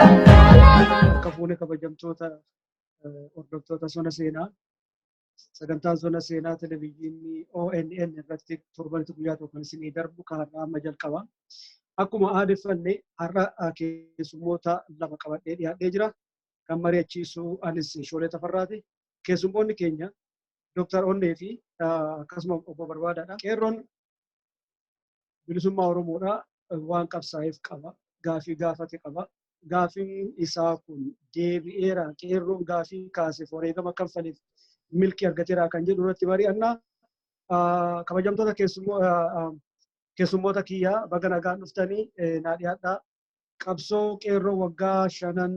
Akka fuune kabajamtoota hordoftoota sona seenaa sagantaan sona seenaa televezyiinii ONN irratti torbanitti guyyaa tokko kan isinii darbu kan har'aa amma jalqaba. Akkuma aadeffanne har'a keessummoota lama qabadhee dhiyaadhee jira. Kan mari'achiisu anis Shoolee Tafarraati. Keessummoonni keenya Dooktar Onnee fi akkasuma obbo Barbaadaadha. Qeerroon bilisummaa Oromoodhaa waan qabsaa'eef qaba. Gaafii gaafate qaba. Gaafiin isaa kun deebi'eera. Qeerroon gaafii kaaseef wareegama kanfaleef milkii argateera kan jedhu irratti mari'anna. Kabajamtoota keessummoota kiyyaa baga nagaan dhuftanii naa dhiyaadhaa. qabsoo qeerroo waggaa shanan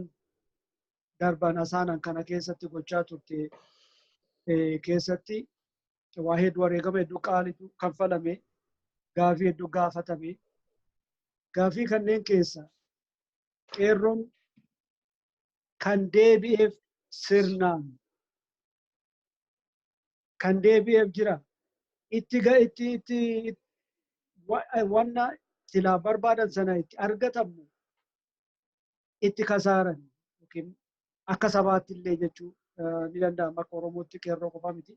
darban asaanan kana keessatti gochaa turte keessatti waa hedduu wareegama hedduu qaalitu kanfalame gaafii hedduu gaafatame gaafii kanneen keessa qeerroon kan deebi'eef sirnaan kan deebi'eef jira. Itti ga itti itti wanna silaa barbaadan sana itti argatamu itti kasaaran yookiin akka sabaatti illee jechuu ni danda'ama akka Oromootti qeerroo qofa miti.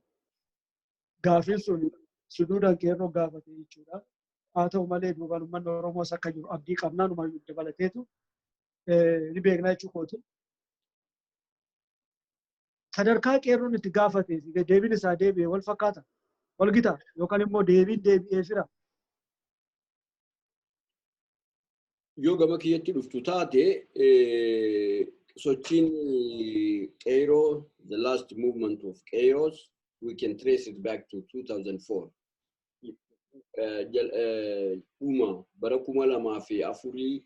Gaafiin sun suduudaan qeerroo gaafate jechuudha. Haa ta'u malee duubaan uummanni Oromoos akka jiru abdii qabnaan uummanni dabalateetu ni beekna jechuu kooti. sadarkaa qeerroon itti gaafatee fi deebiin isaa deebi'e wal fakkaata wal gita yookaan immoo deebiin deebi'ee fira. Yoo gama kiyyatti dhuftu taate sochiin qeerroo the last movement of chaos we can trace it back to 2004 eh, jal- eh, dhuma bara kuma lamaa fi afurii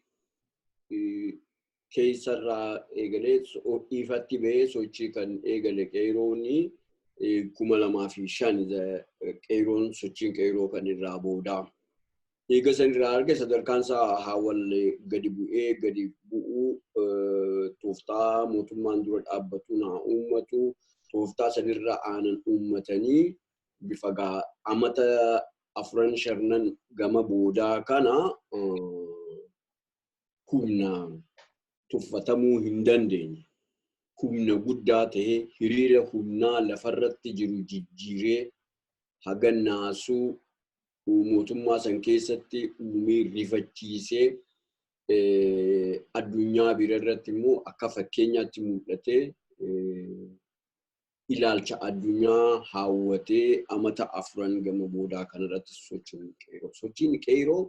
eh, keessarraa eegalee so- ifatti ba'ee sochii kan eegale qeerooni eh, kuma lamaa fi shan eh, qeeroon sochiin qeeroo kan irraa boodaa. Eega san irraa arge sadarkaan isaa haawwalle gadi bu'ee gadi bu'uu eh, tooftaa mootummaan dura dhaabbatu naa uummatu tooftaa sanirra aanan uummatanii bifa gaa amata afuran sharnan gama boodaa kana humnaan tuffatamuu hin dandeenye. Humna guddaa ta'e hiriira humnaa lafarratti jiru jijjiiree haga naasuu mootummaa san keessatti uumee rifachiisee addunyaa bira irratti immoo akka fakkeenyaatti mul'atee ilaalcha addunyaa haawwatee amata afran gama boodaa kanarratti sochiin qeeroo. Sochiin qeeroo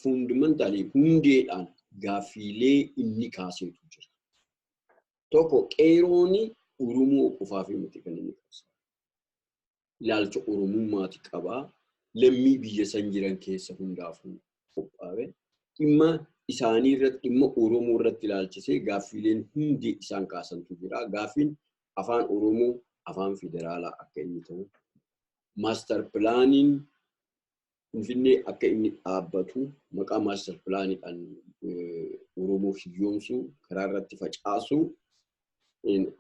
fundamentally hundeedhaan gaaffiilee inni kaaseetu jira. Tokko qeerooni Oromoo qofaaf miti kan inni qabsaa'u. ilaalcha Oromummaati qaba. Lammii biyya san jiran keessa hundaafuu qophaawe. Dhimma isaanii irratti dhimma Oromoo irratti ilaalchisee gaaffiileen hundi isaan kaasantu jira. Gaaffiin afaan Oromoo afaan federaalaa akka inni ta'u, maastar pilaaniin Finfinnee akka inni dhaabbatu maqaa maastar pilaaniidhaan Oromoo hiyyoomsuu karaa irratti facaasuu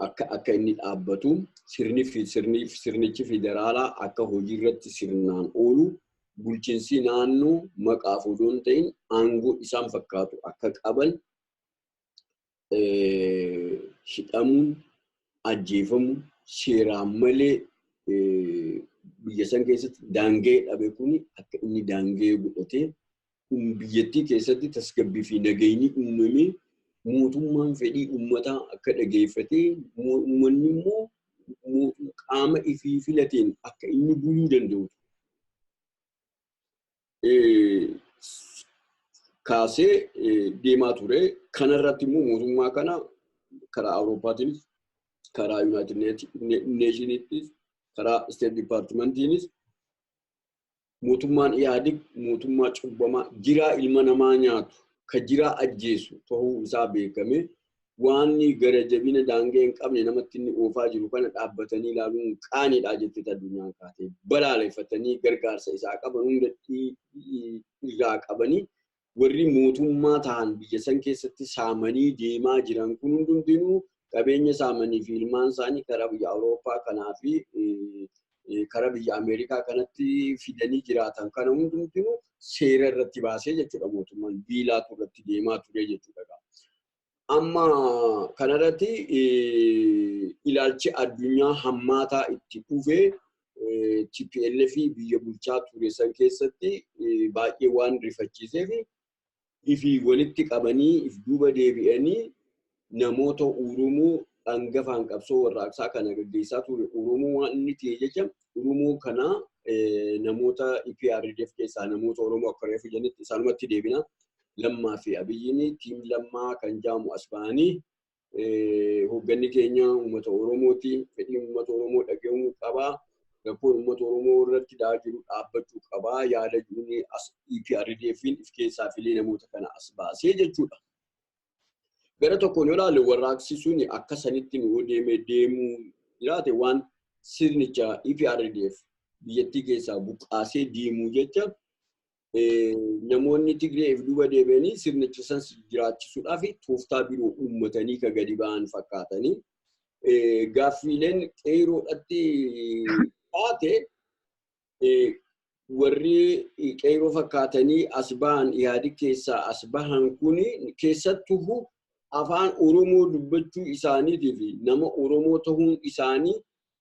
akka akka inni dhaabbatu sirni sirni sirnichi federaalaa akka hojii irratti sirnaan oolu bulchiinsi naannoo maqaaf odoo hin ta'in aangoo isaan fakkaatu akka qaban hidhamuun ajjeefamu seeraan malee biyya san keessatti daangee dhabe kun akka inni daangee godhatee biyyattii keessatti tasgabbii fi nageenyi uumamee mootummaan fedhii uummataa akka dhageeffatee uummanni immoo qaama ifii filateen akka inni buluu danda'u kaasee deemaa ture. Kana irratti immoo mootummaa kana karaa Awuroopaatiinis, karaa Yuunaayitid Neeshiniittis, karaa Isteet Dipaartimentiinis mootummaan Ihaadig mootummaa cubbamaa jiraa ilma namaa nyaatu kan jiraa ajjeesu ta'uu isaa beekamee waanni gara jabina daangee hin qabne namatti inni oofaa jiru kana dhaabbatanii ilaaluun qaaniidhaa jettee addunyaan kaatee balaaleffatanii gargaarsa isaa qaban hundatti irraa qabanii warri mootummaa ta'an biyya san keessatti saamanii deemaa jiran kun hundumtinuu qabeenya saamanii fi ilmaan isaanii karaa biyya Awurooppaa kanaa fi karaa biyya Ameerikaa kanatti fidanii jiraatan kana hundumtinuu seera irratti baasee jechuudha mootummaan biilaatu irratti deemaa ture jechuudha. Amma kanarratti ilaalchi addunyaa hammaataa itti dhufe TPLF biyya bulchaa ture san keessatti baay'ee waan rifachiiseef ifi walitti qabanii if duuba deebi'anii namoota Oromoo dhangafaan qabsoo warraaqsaa kana gaggeessaa ture Oromoo waan inni ta'e jecha Oromoo kana namoota EPRDF keessaa namoota Oromoo akka reefu jedhanitti isaanumatti deebina. Lammaa fi Abiyyiin tiim Lammaa kan jaamu as ba'anii hoogganni keenya uummata Oromooti. Fedhiin uummata Oromoo dhaga'uu qabaa. Rakkoon uummata Oromoo irratti da'aa jiru dhaabbachuu qabaa. Yaada jiruun as EPRDFiin if keessaa filee namoota kana as baasee jechuudha. Gara tokkoon yoo ilaalle warraaqsi sun akka sanitti nu deeme deemuu jiraate waan sirnicha EPRDF biyyattii keessaa buqqaasee deemuu jecha namoonni Tigree fi duuba deebi'anii sirnicha sanas jiraachisuudhaaf tooftaa biroo uummatanii ka gadi ba'an fakkaatanii gaaffiileen qeeroodhatti taate warri qeeroo fakkaatanii as bahan Ihaadig keessaa as bahan kun keessattuu afaan Oromoo dubbachuu isaaniitii fi nama Oromoo ta'uun isaanii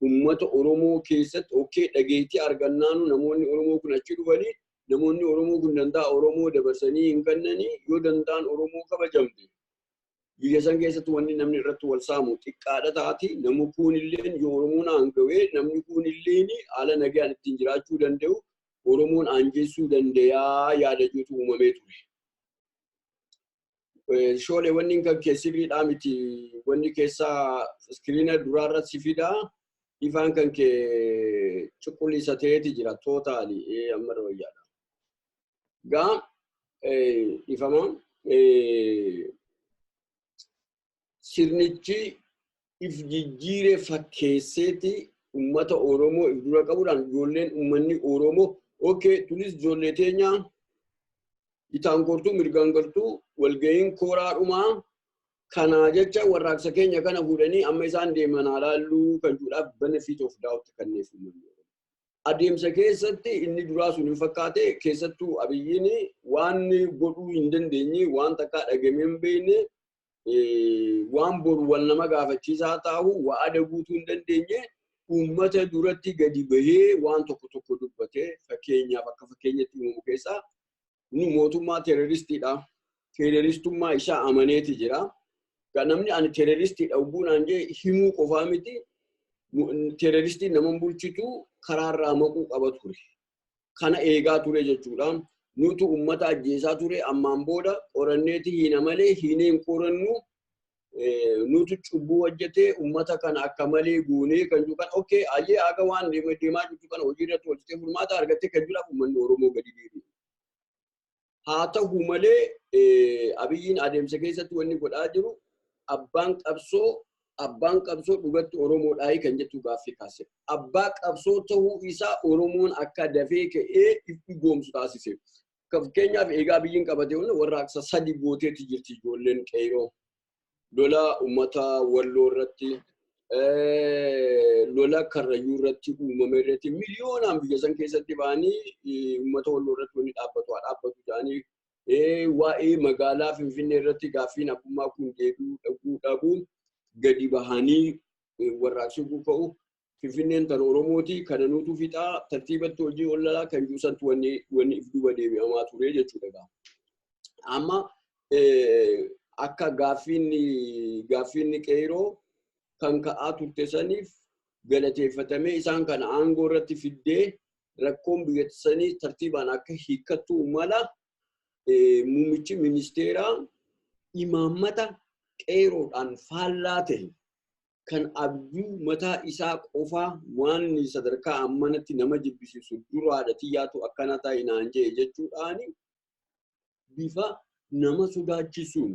ummata Oromoo keessatti okkee dhageettii argannaanu namoonni Oromoo kun achi dhufanii namoonni Oromoo kun dantaa Oromoo dabarsanii hin kennanii yoo dantaan Oromoo kabajamte biyya san keessatti wanni namni irratti wal saamu xiqqaadha taati namni kuunilleen yoo Oromoon aangawee namni kuunilleen haala nagaan ittiin jiraachuu danda'u Oromoon aanjeessuu dandayaa yaada jirutu uumamee ture. Eh, Shoole wanni kan kee sirriidhaa miti wanni keessaa iskiriina duraarra si fida ifaan kan kee cuquliisa ta'eeti jira tootaali eh, amma wayyaadha. Gaa eh, ifama eh, sirnichi if jijjiire fakkeesseeti ummata Oromoo if dura qabuudhaan ijoolleen ummanni Oromoo okay tulis ijoollee teenya bitaan gortuu mirgaan galtuu walga'iin kooraa dhumaa kanaa jecha warraaqsa keenya kana fuudhanii amma isaan deeman haa laalluu kan jedhuudhaaf benefit of doubt kenneef ummanni Oromoo. adeemsa keessatti inni duraa sun hin fakkaate keessattuu abiyyiin waan godhuu hin dandeenye waan takkaa dhagamee hin beekne waan boru wal nama gaafachiisaa taa'u wa'ada guutuu hin dandeenye uummata duratti gadi bahee waan tokko tokko dubbatee fakkeenyaaf akka fakkeenyatti uumamu keessaa Inni mootummaa teeroristiidha. Teeroristummaa isaa amaneeti jira. Kan namni ani teeroristiidha ugguu naan jee himuu qofaa miti. Teeroristiin nama bulchitu karaarraa maquu qaba ture. Kana eegaa ture jechuudha. Nutu uummata ajjeesaa ture ammaan booda qoranneeti hiina malee hiinee hin qorannu nutu cubbuu hojjetee uummata kana akka malee guunee kan jiru kan okkee ayyee haga waan deemaa jirtu kana hojii irratti hojjetee furmaata argattee kan jiraaf uummanni Oromoo gadi deebi'e. Haa ta'u malee abiyyiin adeemsa keessatti wanni godhaa jiru abbaan qabsoo abbaan qabsoo dhugatti Oromoodhaa kan jettu gaaffii kaase. Abbaa qabsoo ta'uu isaa Oromoon akka dafee ka'ee itti goomsu taasise. Fakkeenyaaf eegaa biyyiin qabate hunda warraaqsa sadi gooteetti jirti ijoolleen qeeroo. Lola uummata walloo irratti lola karrayyuu irratti uumame irratti miliyoonaan biyya san keessatti ba'anii uummata walloo irratti wanni dhaabbatu haa dhaabbatu jedhanii waa'ee magaalaa Finfinnee irratti gaaffiin abbummaa kun deebi'uu dhabuu dhabuu gadi bahanii warraaqsuu ka'u Finfinneen tan Oromooti kana nuutu fixaa tartiibatti hojii ollalaa kan jiru santu wanni wanni if duuba deebi'amaa ture jechuudha gaa. Amma akka gaaffiin gaaffiin qeeroo kan ka'aa turte saniif galateeffatamee isaan kana aangoo irratti fiddee rakkoon biyyatti sanii tartiibaan akka hiikkattu mala muummichi ministeeraa imaammata qeeroodhaan faallaa ta'e kan abjuu mataa isaa qofaa waan sadarkaa ammanatti nama jibbisiisu duraadha tiyyaatu akkana ta'i naan jee jechuudhaan bifa nama sodaachisuun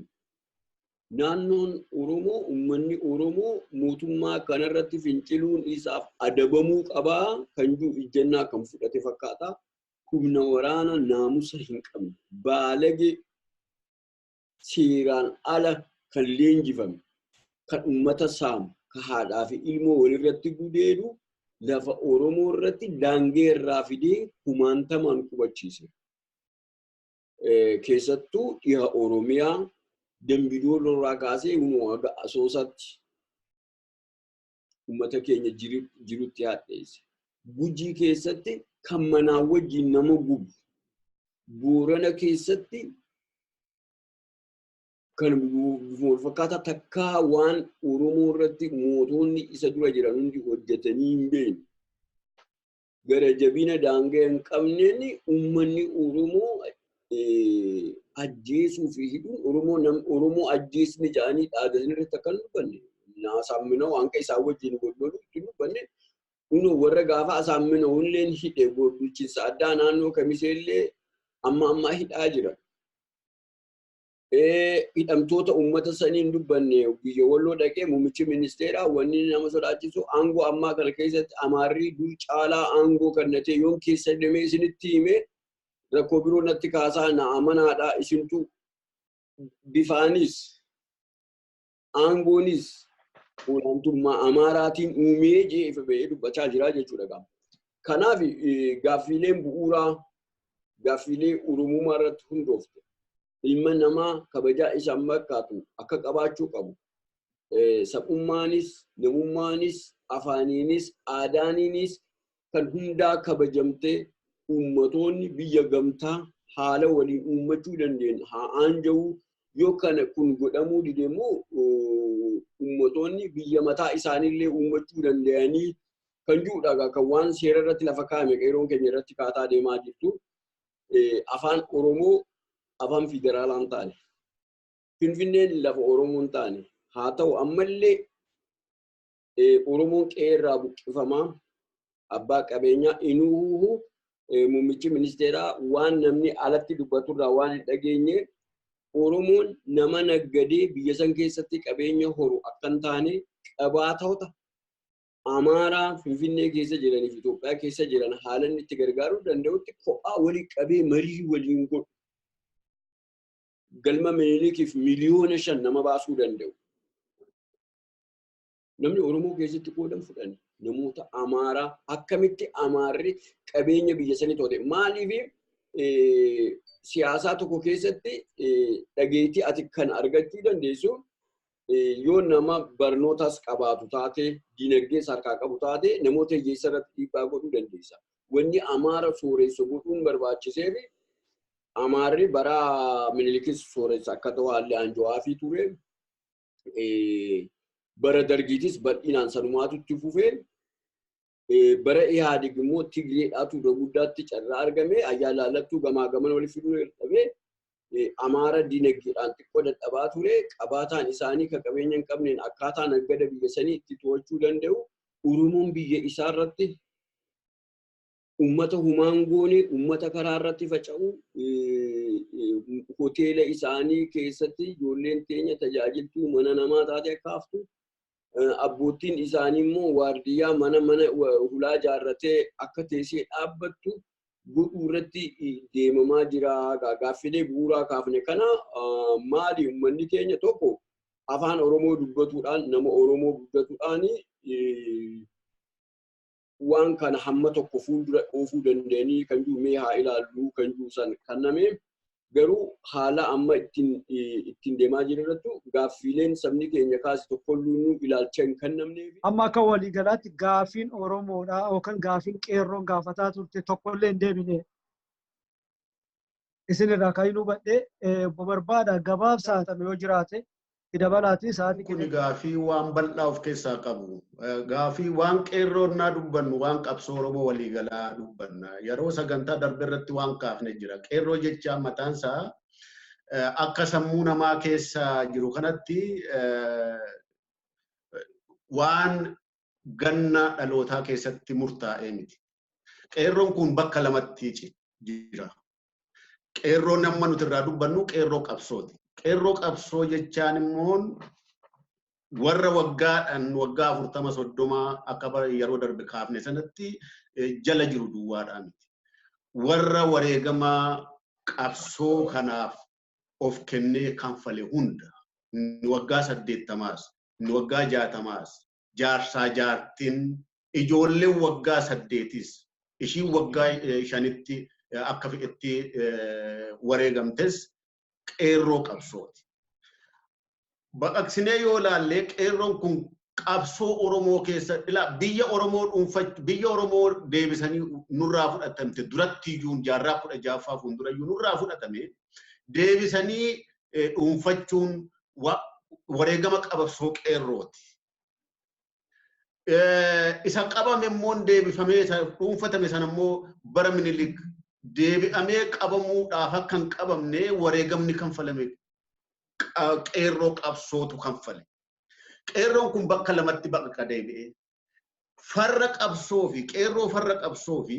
naannoon Oromoo uummanni Oromoo mootummaa kanarratti finciluun isaaf adabamuu qabaa kan jiru ijjannaa kan fudhate fakkaata. Humna waraana naamusa hin qabne baalage seeraan ala kan leenjifame, kan uummata saamu, kan haadhaa fi ilmoo walirratti gudeedu lafa Oromoo irratti daangee irraa fidee kumaantamaan qubachiise. Keessattuu dhiha Oromiyaa Dambi Dooloo irraa kaasee kunoo haga Asoosaatti uummata keenya jirutti hadheesse. Gujii keessatti kan manaa wajjin nama gubu. Boorana keessatti kan wal fakkaataa takkaa waan Oromoo irratti mootonni isa dura jiran hundi hojjetanii hin beekne. gara jabina daangaa hin qabneen uummanni Oromoo ajjeesuu fi hidhuun Oromoo nam Oromoo ajjeesni jedhanii dhaadan irratti akka hin dubbanne naasaamminoo waan akka isaan wajjin wal loluu itti hin dubbanne kun warra gaafa asaamminoo illee hidhe bulchiinsa addaa naannoo kamiseellee amma ammaa hidhaa jira. hidhamtoota uummata sanii hin dubbanne biyya walloo dhaqee muummichi ministeeraa wanni nama sodaachisu aangoo ammaa kana keessatti amaarrii dur caalaa aangoo kannatee yoon keessa demee isinitti hime rakkoo biroo natti kaasaa na amanaadha isintu bifaanis aangoonis olaantummaa Amaaraatiin uumee jee ifa ba'ee dubbachaa jira jechuudha gaafa. Kanaaf gaaffiileen bu'uuraa gaaffiilee Oromummaa irratti hundoofte ilma namaa kabajaa isaan markaatu akka qabaachuu qabu. Sab'ummaanis, namummaanis, afaaniinis, aadaaniinis kan hundaa kabajamtee uummatoonni biyya gamtaa haala waliin uummachuu dandeen haa aanja'uu yoo kana kun godhamuu dide immoo uummatoonni biyya mataa isaaniillee uummachuu danda'anii kan jiruudha egaa kan waan seera irratti lafa kaa'ame qeeroon keenya irratti kaataa deemaa jirtu afaan Oromoo afaan federaalaa hin taane Finfinneen lafa Oromoo hin taane haa ta'u ammallee Oromoon qe'ee irraa buqqifamaa abbaa qabeenyaa inuuhu muummichi ministeeraa waan namni alatti dubbatu irraa waan hin dhageenye Oromoon nama naggadee biyya san keessatti qabeenya horu akka hin taane qabaatota Amaaraa Finfinnee keessa jiranii fi Itoophiyaa keessa jiran haalan itti gargaaruu danda'utti kophaa walii qabee marii waliin godhu. Galma Minilikiif miliyoona shan nama baasuu danda'u. Namni Oromoo keessatti qoodan fudhani. Namoota Amaaraa akkamitti Amaarri qabeenya biyya sanii to'ate. Maaliif siyaasaa tokko keessatti dhageettii ati kan argachuu dandeessu yoo nama barnootas qabaatu taate, dinagdees harkaa qabu taate namoota hiyyeessa irratti dhiibbaa godhuu dandeessa. Wanni Amaara sooressu godhuun barbaachiseef Amaarri bara Minilikis sooressu akka ta'u haalli aanjoo haafii ture. bara dargiitis bal'inaan sanumaatu itti fufee bara Ihaadig immoo Tigreedhaatu iddoo guddaatti carraa argame ayyaa laallattuu gamaa gaman walitti fiduu dadhabee Amaara dinagdeedhaan xiqqoo dadhabaa ture qabaataan isaanii kan qabeenya hin qabneen akkaataa naggada biyya sanii itti to'achuu danda'u Oromoon biyya isaa irratti ummata humaan goone ummata karaa irratti faca'u hoteela isaanii keessatti ijoolleen teenya tajaajiltuu mana namaa taate akka haftu abboottiin isaanii immoo waardiyyaa mana mana hulaa ijaarratee akka teessee dhaabbattu godhuu irratti deemamaa jira gaaffilee bu'uuraa kaafne kana maali ummanni keenya tokko afaan oromoo dubbatuudhaan nama oromoo guddatuudhaan waan kana hamma tokko fuuldura oofuu dandeenii kan jiru mee haa ilaallu kan jiru san kanname garuu haala amma ittiin ittiin deemaa jiru irrattu gaaffiileen sabni keenya kaase tokkolluunuu ilaalcha hin kannamnee fi Amma akka waliigalaatti gaafiin Oromoodhaa yookaan gaafiin qeerroon gaafataa turte tokkollee hin deebine. isin irraa kan hin hubadhe obbo Barbaada gabaabsaa ta'e yoo jiraate itti dabalaatii sa'aatii Kun keenya gaafii waan bal'aa of keessaa qabu. Eh, Gaafii waan qeerroon naa dubbannu waan qabsoo Oromoo waliigalaa dubbanna. Yeroo sagantaa darbe irratti waan kaafne jira. Qeerroo jechaa mataan isaa eh, akka sammuu namaa keessa jiru kanatti eh, waan ganna dhalootaa keessatti murtaa'ee miti. Qeerroon kun bakka lamatti jira. Qeerroon amma nuti irraa dubbannu qeerroo qabsooti. Qeerroo qabsoo jechaan immoo warra waggaadhaan waggaa afurtama soddomaa akka yeroo darbe kaafne sanatti jala jiru duwwaadhaa miti. Warra wareegama qabsoo kanaaf of kennee kanfale hunda, inni waggaa saddeettamaas, inni waggaa jaatamaas, jaarsaa jaartiin, ijoolleen waggaa saddeetis, ishiin waggaa shanitti akka fedhetti wareegamtes qeerroo qabsooti. baqaqsinee yoo ilaalle qeerroon kun qabsoo Oromoo keessa ilaa biyya Oromoo dhuunfach biyya Oromoo deebisanii nurraa fudhatamte duratti iyyuu jaarraa kudha jaaffaa fuuldura iyyuu nurraa fudhatame deebisanii dhuunfachuun wareegama qabsoo qeerrooti. Isa qabame immoo deebifamee isa dhuunfatame sana immoo bara minilik deebi'amee qabamuudhaaf akka hin qabamne wareegamni kanfalame qeerroo qabsootu kanfale. Qeerroon kun bakka lamatti baqqa deebi'ee farra qabsoo fi qeerroo farra qabsoo fi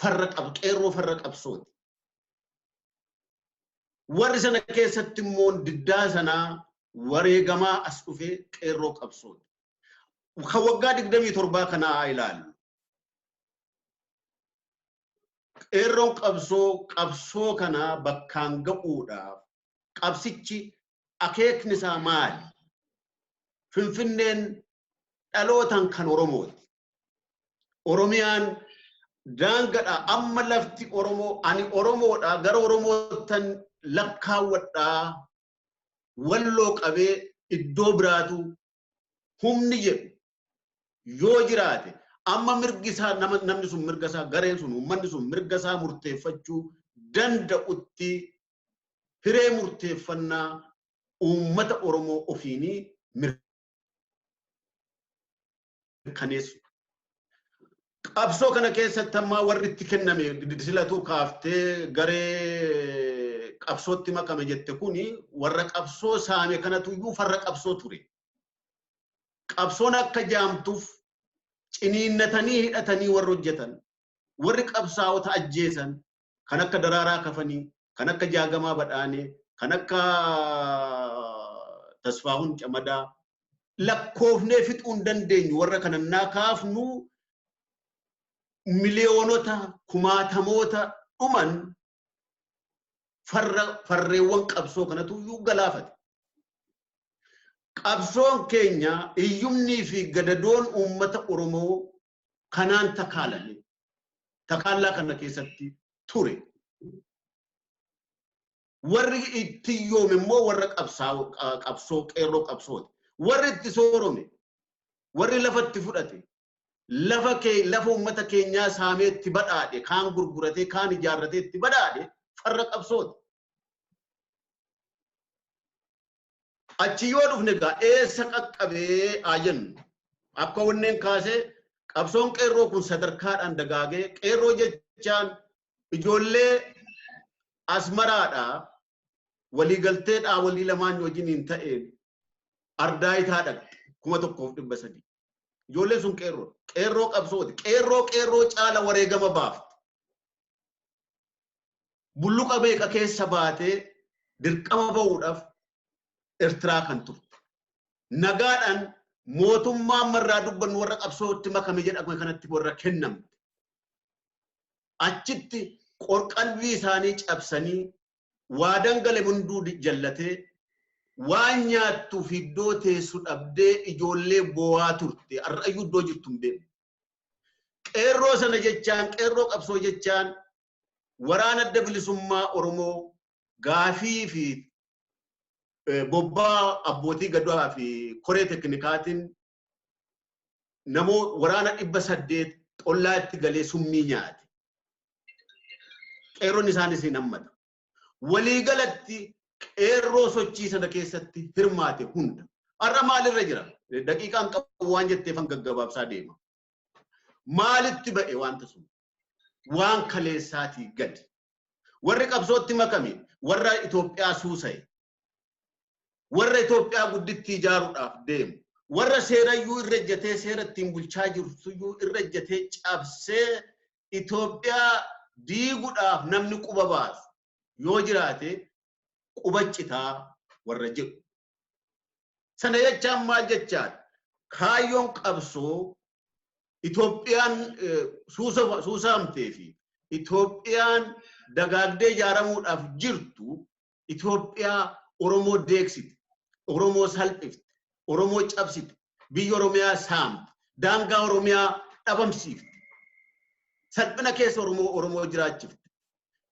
farra qab qeerroo farra qabsooti. Warri sana keessatti immoo diddaa sanaa wareegamaa as dhufee qeerroo qabsooti. Kan waggaa digdamii torbaa kanaa haa ilaallu. Qeerroon qabsoo qabsoo kanaa bakkaan ga'uudhaaf qabsichi akeekni isaa maali? Finfinneen dhalootaan kan Oromooti. Oromiyaan daangadha amma lafti Oromoo ani Oromoodha gara Oromoottan lakkaawwadha walloo qabee iddoo biraatu humni jedhu yoo jiraate amma mirgi isaa nama namni sun mirga isaa gareen sun uummanni sun mirga isaa murteeffachuu danda'utti hiree murteeffannaa uummata Oromoo ofiinii mirkaneessu. Qabsoo kana keessatti ammaa warri itti kenname silatuu kaaftee garee qabsootti makame jette kuni warra qabsoo saame kanatu iyyuu farra qabsoo ture. Qabsoon akka jaamtuuf ciniinnatanii hidhatanii warri hojjetan warri qabsaa'ota ajjeesan kan akka Daraaraa Kafanii, kan akka Jaagamaa Badhaanee, kan akka Tasfaahun Camadaa lakkoofnee fixuu hin dandeenyu warra kana naa kaafnu miliyoonota kumaatamoota dhuman farra farreewwan qabsoo kanatu iyyuu galaafate. Qabsoon keenya hiyyumnii fi gadadoon uummata Oromoo kanaan takaalame. Takaallaa kana keessatti ture. Warri itti yoome immoo warra qabsoo qeerroo qabsooti. Warri itti soorome, warri lafa itti fudhate, lafa kee lafa uummata keenyaa saamee itti badhaadhe, kaan gurguratee, kaan ijaarratee itti badhaadhe farra qabsooti. Achi yoo dhufne egaa eessa qaqqabee haa jennu. Akka wanneen kaasee qabsoon qeerroo kun sadarkaadhaan dagaagee qeerroo jechaan ijoollee asmaraadhaa waliigaltee dhaawolii lamaan wajjiniin ta'een ardaayitaa dhaqxe kuma tokkoof dhibba sadii. Ijoolleen sun qeerroo qeerroo qabsooti qeerroo qeerroo caala wareegama baafte. bulluqa meeqa keessa baatee dirqama ba'uudhaaf Ertiraa kan turte. Nagaadhaan mootummaa amma irraa dubbannu warra qabsootti makame jedhame kanatti warra kennamte. Achitti qorqalbii isaanii cabsanii waa dangale hunduu jallatee waan nyaattuuf iddoo teessu dhabdee ijoollee boo'aa turte. Har'ayyuu iddoo jirtu hin beekne. Qeerroo sana jechaan, qeerroo qabsoo jechaan waraana adda bilisummaa Oromoo gaafii fi bobbaa abbootii gadaa fi koree teknikaatiin namoo waraana dhibba saddeet xollaa itti galee summii nyaate. Qeerroon isaanis hin hammatu. waliigalatti qeerroo sochii sana keessatti hirmaate hunda har'a maalirra jira daqiiqaan qabu waan jetteefan gaggabaabsaa deema maalitti ba'e wanta sun waan kaleessaatii gadi warri qabsootti makame warra Itoophiyaa suusaye warra Itoophiyaa guddittii ijaaruudhaaf deemu warra seerayyuu irra ejjatee seera ittiin bulchaa jirtuyyuu irra ejjatee cabsee Itoophiyaa diigudhaaf namni quba baasu yoo jiraate quba citaa warra jedhu. Sana jechaan maal jechaan kaayyoon qabsoo Itoophiyaan suusaamtee fi Itoophiyaan dagaagdee ijaaramuudhaaf jirtu Itoophiyaa Oromoo deegsite, Oromoo salphifte, Oromoo cabsite, biyya Oromiyaa saamte, daangaa Oromiyaa dhabamsiifte, salphina keessa Oromoo Oromoo jiraachifte.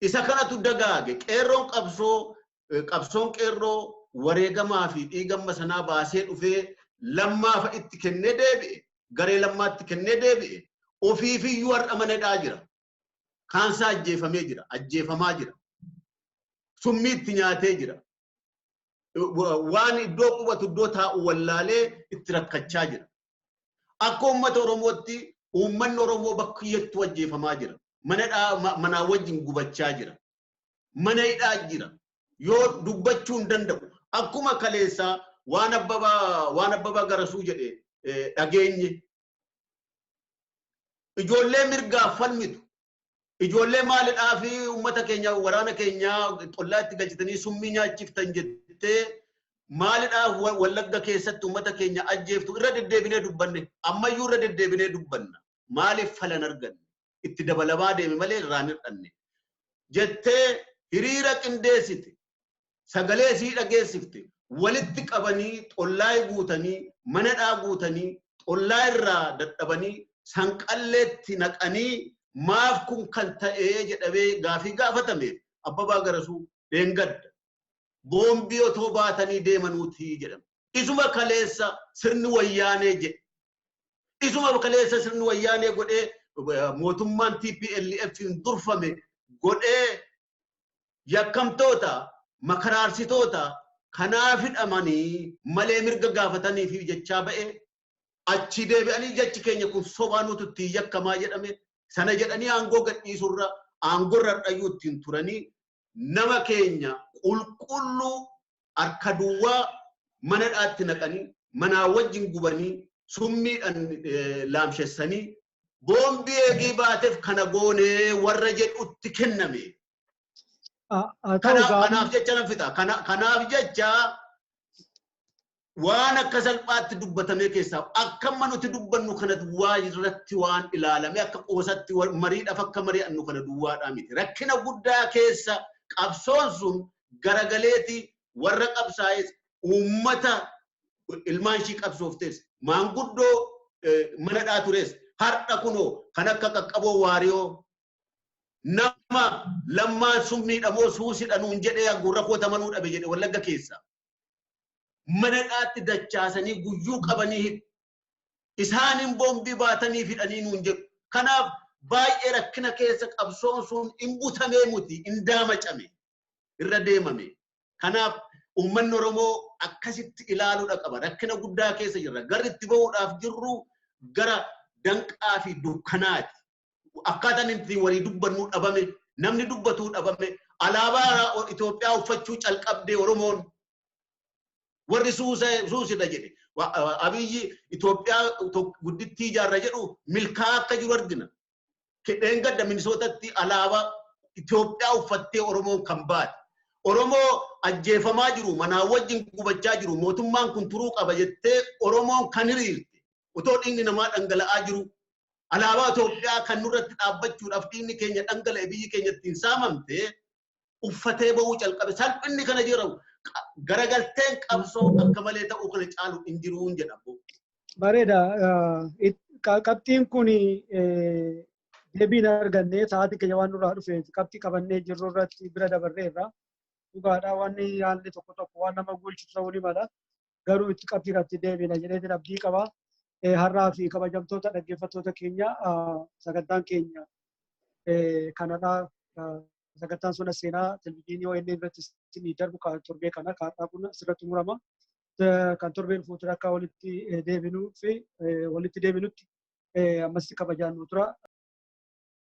Isa kanatu dagaage qeerroon qabsoo qabsoon qeerroo wareegamaa fi dhiigamma sanaa baasee dhufee lammaafa itti kennee deebi'e garee lammaatti kennee deebi'e ofiifiyyuu har'a manadhaa jira Kaansaa ajjeefamee jira. Ajjeefamaa jira. Summii itti nyaatee jira. Waan iddoo qubatu iddoo taa'u wallaalee itti rakkachaa jira. Akka uummata Oromootti uummanni Oromoo bakka iyyattuu ajjeefamaa jira. Manaa wajjin gubachaa jira. Mana hidhaa jira. Yoo dubbachuu hin danda'u. Akkuma kaleessaa waan abbabaa garasuu jedhe dhageenye Ijoollee mirgaaf falmitu. Ijoollee maalidhaa fi uummata keenya waraana keenya xollaa itti galchitanii summii nyaachiftan jettee maalidhaa wallagga keessatti uummata keenya ajjeeftu irra deddeebinee dubbanne ammayyuu irra deddeebinee dubbanna maaliif falan arganne itti dabalamaa deeme malee irraa hin hir'anne. Jettee hiriira qindeessite, sagalee isii dhageessifte, walitti qabanii xollaay guutanii, manadhaa guutanii, xollaa irraa dadhabanii sanqalleetti naqanii maaf kun kan ta'e jedhamee gaafii gaafatameef Abbabaa Garasuu dheengadda boombii otoo baatanii deemanuuti jedhame. Isuma kaleessa sirni wayyaanee jedhe Isuma kaleessa sirni wayyaanee godhee mootummaan TPLF'n durfame godhee yakkamtoota makaraarsitoota kanaa fidhamanii malee mirga gaafatanii fi jechaa ba'e achii deebi'anii jechi keenya kun sobaa nutu ittiin yakkamaa jedhame sana jedhanii aangoo gadhiisurra aangorra dhayyuu ittiin turanii nama keenya qulqulluu harka duwwaa mana dhaatti naqanii, manaa wajjin gubanii, summiidhan laamshessanii, boombii eegii baatef kana goone warra jedhutti kenname. Haa ta'u Kanaaf gaafii kanaaf jecha nan fixa. Kana- Kanaaf jecha waan akka salphaatti dubbatamee keessaa akka amma nuti dubbannu kana duwwaa irratti waan ilaalame akka qoosatti wal- mariidhaaf akka mari'annu kana duwwaadhaa miti. Rakkina guddaa keessa qabsoon sun garagaleeti warra qabsaa'es uummata ilmaan ishii qabsooftes maanguddoo eh, manadhaa tures har'a kunoo kan akka qaqqaboo waariyoo nama lammaan summiidha moo suusidha nuun jedhee gurra koo tamanuu dhabe jedhe wallagga keessa. mana hidhaatti dachaasanii guyyuu qabanii hidhu. Isaaniin boombii baatanii fidhanii nuun jedhu. Kanaaf baay'ee rakkina keessa qabsoon sun in butamee muti in daamacame irra deemame. Kanaaf uummanni Oromoo akkasitti ilaaluudha qaba. Rakkina guddaa keessa jirra. Garri itti ba'uudhaaf jirru gara danqaa fi dukkanaati. akkaataan itti walii dubbannuu dhabame namni dubbatuu dhabame alaabaa Itoophiyaa uffachuu calqabdee Oromoon warri suusidha jedhe abiyyi Itoophiyaa guddittii ijaarra jedhu milkaa akka jiru argina. Kidheen gadda Minisootatti alaabaa Itoophiyaa uffattee Oromoon kan baate. Oromoo ajjeefamaa jiru manaa wajjin gubachaa jiru mootummaan kun turuu qaba jettee Oromoon kan hiriirte otoo dhiigni namaa dhangala'aa jiru Alaabaa Itoophiyaa kan nurratti dhaabbachuudhaaf dhiigni keenya dhangala'e biyyi keenya ittiin saamamte uffatee ba'uu calqabe. Salphinni kana jira garagalteen qabsoo akka malee ta'uu kana caalu hin jiruun jedha. Bareeda. Qabxiin kun deebiin argannee sa'aatii keenya waan nurraa dhufeef qabxii qabannee jirru irratti bira dabarreerra. Dhugaadhaa wanni haalli tokko tokko waan nama guulchisu ta'uu ni mala. garuu itti qabxii irratti deebina jedheetiin abdii qaba. Har'aa fi kabajamtoota dhaggeeffattoota keenya sagantaan keenya kanadha. Sagantaan sona seenaa televizyiinii ONN irratti isinii darbu kan torbee kana kan har'aa kun asirratti murama. Kan torbee dhufuutiin akka walitti deebinuu fi walitti deebinutti ammas kabajaan nu tura.